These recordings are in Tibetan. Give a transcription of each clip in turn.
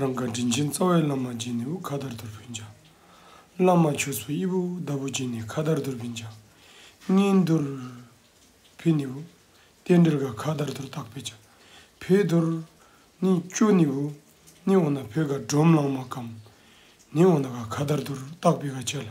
རང་ག་དྲིན་ཆེན་རྩ་བའི་བླ་མ་སྦྱིན་ནས་དབུ་ཁ་དར་དུར་བུན་བྱ། བླ་མ་ཆོས་ཚོགས་དབྱི་བོ་དབུ་ཟླ་བོ་སྦྱིན་ནས་ཁ་དར་དུར་བུན་བྱ། གཉེན་རྡོར། བི་ནི་བུ། རྟེན་འབྲེལ་ག་ཁ་དར་དུར་བཏགས་པས་བྱ། བི་རྡོར། ནི། ཅོ་ནི་བུ། ནི་འོ་ན་བུ་ག་འབྲོམ་གླང་མ་གམ། ནི་འོ་ན་ག་ཁ་དར་དུར་བཏགས་པས་ག་བྱས་ལ།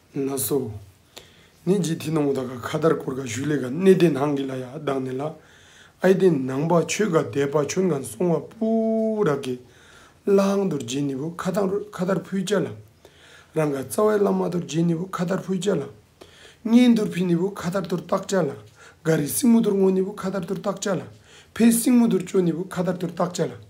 ལ་སོགས་ནི་ཇི་ཐི་ནོ་མོ་ད་ག་ཁ་དར་ཀོར་ག་བཞུ་ལེ་ག་གནས་དེ་ནང་གི་ལ་ཡ་བདག་ནི་ལ་ཨའི་དེ་ནང་པ་ཆོས་ག་དད་པ་ཆོན་ག་སོང་བ་པུ་ར་གི་བླ་ཨང་དོར་རྗེ་ནི་བུ་ཁ་དང་ཁ་དར་ཕུལ་བྱ་ལ། རང་ག་རྩ་བའི་བླ་མ་དོར་རྗེ་ནི་བུ་ཁ་དར་ཕུལ་བྱ་ལ། གཉེན་དོར་ཕི་ནི་བུ་ཁ་དར་དོར་བཏགས་བྱ་ལ། ག་རི་སྲིང་མོ་དོར་སྔོ་ནི་བུ་ཁ་དར་དོར་བཏགས་བྱ་ལ། ཕའི་སྲིང་མོ་དོར་ཅོ་ནི་བུ་ཁ་དར་དོར་བཏགས་བྱ་ལ།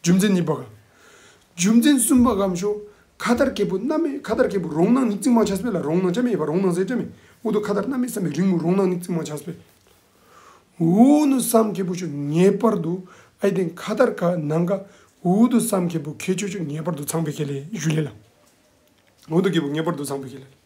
རྒྱུ་མཚན་གཉིས་པ། རྒྱུ་མཚན་གསུམ་པ་གམ་ཞོ་ཁ་དར་སྐྱེས་བུ་སྣ་མའི་ཁ་དར་སྐྱེས་བུ་རོང་ནང་ནི་རྩིག་རྨང་ཆ་སྤེལ་ལ་རོང་ནང་ཆ་མེད་པ་རོང་ནང་ཟས་སྤྲད་མེད་འུ་ཐུག་ཁ་དར་སྣ་མའི་བསམ་པའི་རིང་མོ་རོང་ནང་ནི་རྩིག་རྨང་ཆ་སྤེལ། འུ་ནུ་བསམ་སྐྱེས་བུ་ཆུ་ངེས་པར་དུ་ཨ་ཡི་སྟེང་ཁ་དར་ཁ་ནང་ཁ་འུ་ཐུག་བསམ་སྐྱེས་བུ་ཁའི་ཆུ་ཆུ་ངེས་པར་དུ་ཚངས་པའི་ཁེ་ལས་ཞུ་ལེ་ལ་འུ་ཐུག་སྐྱེས་བུ་ངེས་པར་དུ་ཚངས་པའི་ཁེ་ལས།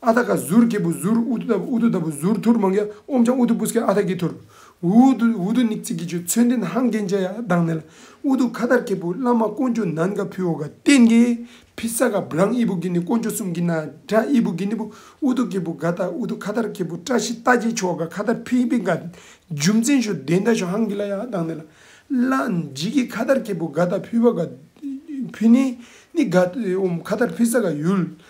ཨ་ཐ་ཀ་ཟུར་སྐྱེས་བུ་ཟུར་ཨུ་ཏུ་ཨུ་ཏུ་ད་བུ་ཟུར་ཐུར་མང་གཡག་ཨོམ་ཆང་ཨུ་ཏུ་པུ་སྐད་ཨ་ཐ་ཀའི་ཐུར། འུ་ཏུ་འུ་ཏུ་ནིག་ཚིག་གི་ཆུ་ཚོད་འདིན་ཧང་རྒན་ཅ་ཡ་གདང་ནལ། ཨུ་ཏུ་ཁ་དར་སྐྱེས་བུ་བླ་མ་དཀོན་ཅོག་ནན་ག་ཕི་འོ་ག་ཏན་གའི་ཕི་ས་ག་བུ་རང་ཨི་བུ་གི་ནི་དཀོན་ཅོག་སུམ་གི་ན་དྲ་ཨི་བུ་གི་ནི་བུ་ཨུ་ཏུ་སྐྱེས་བུ་ག་ད་ཨུ་ཏུ་ཁ་དར་སྐྱེས་བུ་བཀྲ་ཤིས་རྟ་རྒྱལ་ཆོ་ག་ཁ་དར་ཕི་པི་ག་རྒྱུ་མཚན་ཞོ་བདེ་མདའ་ཞོ་ཧང་གི་ལ་ཡ་གདང་ནལ། བླ་འཇིགས་ཀྱི་ཁ་དར་སྐྱེས་བུ་ག་ད་ཕི་བ་ག་ཕི་ནི་ནི་ག་ཨོམ་ཁ་དར་ཕི་ས་ག་ཡུལ་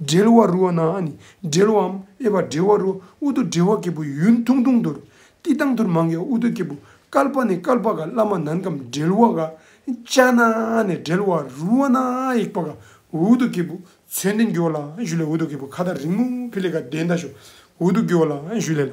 སྦྲེལ་བ་རུ་བ་ན་ནི་སྦྲེལ་བའམ་དབྱེ་བ་སྦྲེལ་བ་རུ་ཨུ་དུ་སྦྲེལ་བ་སྐྱེས་བུ་ཡུན་ཐུང་ཐུང་དུར་ཏི་དང་དུར་མང་གི་ཨུ་དུ་སྐྱེས་བུ་ཀལ་པ་ནི་ཀལ་པ་ག་བླ་མ་ནང་གམ་སྦྲེལ་བ་ག་ཅ་ན་ནི་སྦྲེལ་བ་རུ་བ་ན་ཡིག་པ་ག་ཨུ་དུ་སྐྱེས་བུ་མཚོན་ཏེ་འགྱུར་བ་ལ་ཞུ་ལས་ཨུ་དུ་སྐྱེས་བུ་ཁ་དར་རིང་མོ་ཕི་ལེ་ག་དེ་འདའ་ཞོ་ཨུ་དུ་འགྱུར་བ་ལ་ཞུ་ལས་ལ།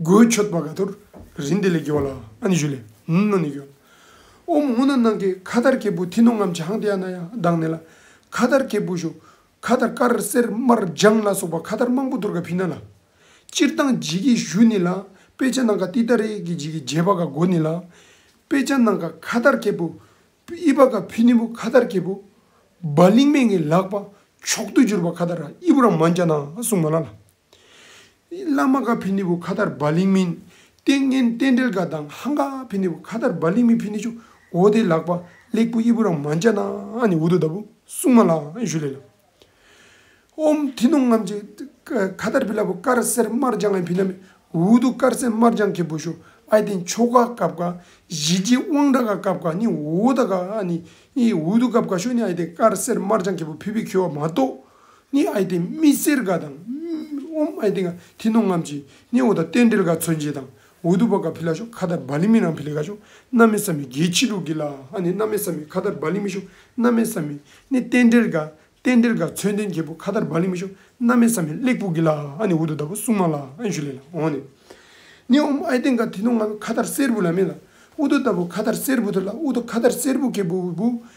སྒོའི་མཆོད་པ་ག་དུར་རིན་དེ་ལས་བགྱི་བ་ལ། ཨ་ནི་ཞུ་ལས། ནུ་ནི་བགྱི་བ། ཨོ་མ་ངུ་ན་ནང་གི་ཁ་དར་གྱི་བུ་དྷི་ནུ་ངམ་བྱང་ཏི་ཨ་ན་ཡ་གདང་ནི་ལ། ཁ་དར་གྱི་བུ་ཞུ། ཁ་དར་དཀར་སེར་དམར་ལྗང་ལ་སོགས་པ་ཁ་དར་མང་པོ་དུར་ག་བྷི་ན་ལ། སྤྱིར་བཏང་བགྱི་གི་གཞུ་ནི་ལ། དཔེ་ཆ་ནང་ག་ཏི་ད་རེ་གི་བགྱི་གི་རྗེས་པ་ག་སྒོ་ནི་ལ། དཔེ་ཆ་ནང་ག་ཁ་དར་གྱི་བུ། དབྱི་བ་ག་བྷི་ནི་བུ་ཁ་དར་གྱི་བུ། བ་ལིང་མེ་ངའི་ལག་པ། མཆོག་ཏུ་གྱུར་པ་ཁ་དར་ཨི་བུ་ར་མ་འཇ་ན་གསུང་མ་ལ་ལ། བླ་མ་ག་བྷི་ནི་བུ་གྷ་དར་བྷ་ལིང་མིན། ཏིང་ངེ་རྟེན་འབྲེལ་ག་དང་ཧང་ག་བྷི་ནི་བུ་གྷ་དར་བྷ་ལིང་མིན་བྷི་ནི་ཆུ་འོ་དེ་ལག་པ་གླེགས་བུ་དབྱི་བུ་རང་མ་འཇ་ན་ནི་འུ་དུ་ད་བུ་སྲུང་མ་ལགས་ཞུ་ལེ་ལ། ཧོམ་ཐི་ནོ་ངམ་ཅི་གྷ་དར་བྷི་ལ་བུ་དཀར་སེར་དམར་ལྗང་ཨེ་བྷི་ན་མི་འུ་དུ་དཀར་སེར་དམར་ལྗང་ཁེ་བུ་ཞུ་ཨའི་དེ་མཆོ་ག་ག་བྷ་གཞི་རྗེ་དབང་དྲ་ག་ག་བྷ་ནི་འུ་དུ་ག་ནི་འུ་དུ་ག་བྷ་ཞུ་ནི་ཨའི་དེ་དཀར་སེར་དམར་ལྗང་ཁེ་བུ་བྷི་བྷི་ཁེ་བྷ་མ་ཏོ་ནི་ཨའི་ཏེ་མི་སེར་ག་དང། ཨོམ་ཨའི་ཏེ་ག་ཐི་ནོ་ངམ་ཅི། ནི་ཨོ་ད་ཏན་ཏིལ་ག་ཚོན་ཅི་དང། འོ་དུ་བ་ག་བྷི་ལ་ཤོ་ཁ་ད་བ་ལི་མི་རང་བྷི་ལི་ག་ཤོ། སྣ་མི་ས་མི་རྒྱལ་ཆི་ལུག་གི་ལ་ཨ་ནི་སྣ་མི་ས་མི་ཁ་ད་བ་ལི་མི་ཤོ། སྣ་མི་ས་མི་ནི་ཏན་ཏིལ་ག། ཏན་ཏིལ་ག་ཚོན་ཏན་གྱི་བུ་ཁ་ད་བ་ལི་མི་ཤོ། སྣ་མི་ས་མི་གླེགས་བུ་གི་ལ་ཨ་ནི་འོ་དུ་ད་བུ་སྲུང་མ་ལ་ཨན་ཞུ་ལེ་ལ་ཨོ་ནི། ནི་ཨོམ་ཨའི་ཏེ་ག་ཐི་ནོ་ངམ་ཁ་ད་སེར་བུ་ལ་མི་ལ། འོ་དུ་ད་བུ་ཁ་ད་སེར་བུ་དུ་ལ་འོ་དུ་ཁ་ད་སེར་བུ་གི་བུ་བུ་བུ་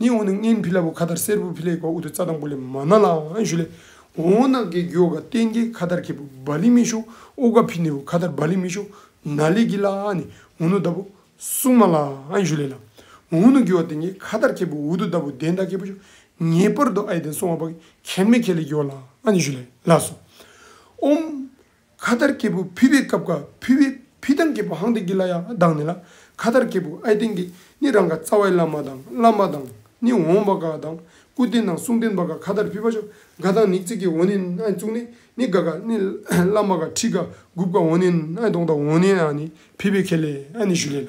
ནི་འོ་ན་སྔན་བྷི་ལ་བུ་ཁ་དར་སེར་བུ་བྷི་ལའི་གོ་འུ་དུ་ཙཱ་དང་པུ་ལེ་མ་ན་ལའང་ཨན་ཞུ་ལེ། འོ་ན་གེ་གོ་ག་ཏན་གེ་ཁ་དར་གེ་བུ་བྷ་ལི་མི་ཤོ་ཨོ་ག་བྷི་ནི་བུ་ཁ་དར་བྷ་ལི་མི་ཤོ་ན་ལེ་གི་ལ་ནི་འོ་ནུ་ད་བུ་སུ་མ་ལ་ཨན་ཞུ་ལེ་ལ། འོ་ནུ་གེ་བ་ཏན་གེ་ཁ་དར་གེ་བུ་འུ་དུ་ད་བུ་དན་ད་གེ་བུ་ཤོ་ངེས་པར་དུ་ཨའི་དན་སོང་བ་བ་གི་ཁན་མེ་ཁེ་ལེ་གོ་ལ་ཨན་ཞུ་ལེ་ལ་སོ། ཨོམ། ཁ་དར་སྐྱེས་བུ་ཕི་བའི་སྐབས་ཀ་ཕི་བའི་ཕི་ཐང་སྐྱེས་བུ་ཧང་ཏི་ཀི་ལ་ཡང་བདག་ནི་ལ་ཁ་དར་སྐྱེས་བུ་ཨའི་ཏིང་ཀི་ནི་རང་ག་རྩ་བའི་བླ་མ་དང་བླ་མ་དང་ནི་འོང་བ་ག་དང་སྐུ་རྟེན་དང་གསུང་རྟེན་པ་ག་ཁ་དར་ཕི་བ་ཤོ་ག་དང་ནི་ཙི་ཀི་འོ་ནི་ཨའི་གཙུག་ནི་ནི་ག་ག་ནི་བླ་མ་ག་ཁྲི་ག་དགུ་བ་ག་འོ་ནི་ཨའི་གདོང་དང་འོ་ནི་ཨ་ནི་ཕི་བའི་ཁེ་ལས་ཨ་ནི་ཞུ་ལས་ལ།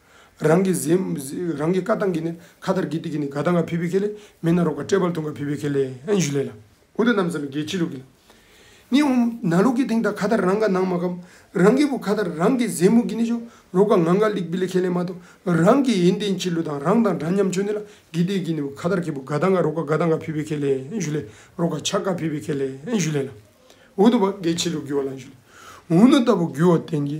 རང་གི་གཟིམས། རང་གི་བཀའ་ཐང་གི་ནི་ཁ་དར་གི་ཏི་གི་ནི་ག་ད་ང་བྷི་བྷི་ཁེ་ལེ། མེ་ན་རོ་ཀ་ཏྲེ་བལ་ཐུང་ག་བྷི་བྷི་ཁེ་ལེ་ཨན་ཞུ་ལེ་ལ། འུ་ད་ནམ་ཟ་མི་གེ་ཅི་ལུག་གི་ལ། ནི་འུ་ན་ལུག་གི་དེང་ད་ཁ་དར་རང་ག་ནང་མ་གམ། རང་གི་བུ་ཁ་དར་རང་གི་གཟིམས་མུ་གི་ནི་ཞུ། རོ་ཀ་ང་ག་ལིག་བྷི་ལི་ཁེ་ལེ་མ་ཏོ། རང་གི་ཡིན་དེ་ཅི་ལུག་དང་རང་དང་འདྲ་མཉམ་ཆོས་ནི་ལ་གི་ཏི་གི་ནི་བུ་ཁ་དར་གི་བུ་ག་ད་ང་རོ་ཀ་ག་ད་ང་བྷི་བྷི་ཁེ་ལེ་ཨན་ཞུ་ལེ། རོ་ཀ་ཆ་ག་བྷི་བྷི་ཁེ་ལེ་ཨན་ཞུ་ལེ་ལ། འུ་ད་བ་གེ་ཅི་ལུག་གི་བ་ལ་ཨན་ཞུ་ལེ། འུ་ན་ད་བུ་གུ་བ་དེང་གི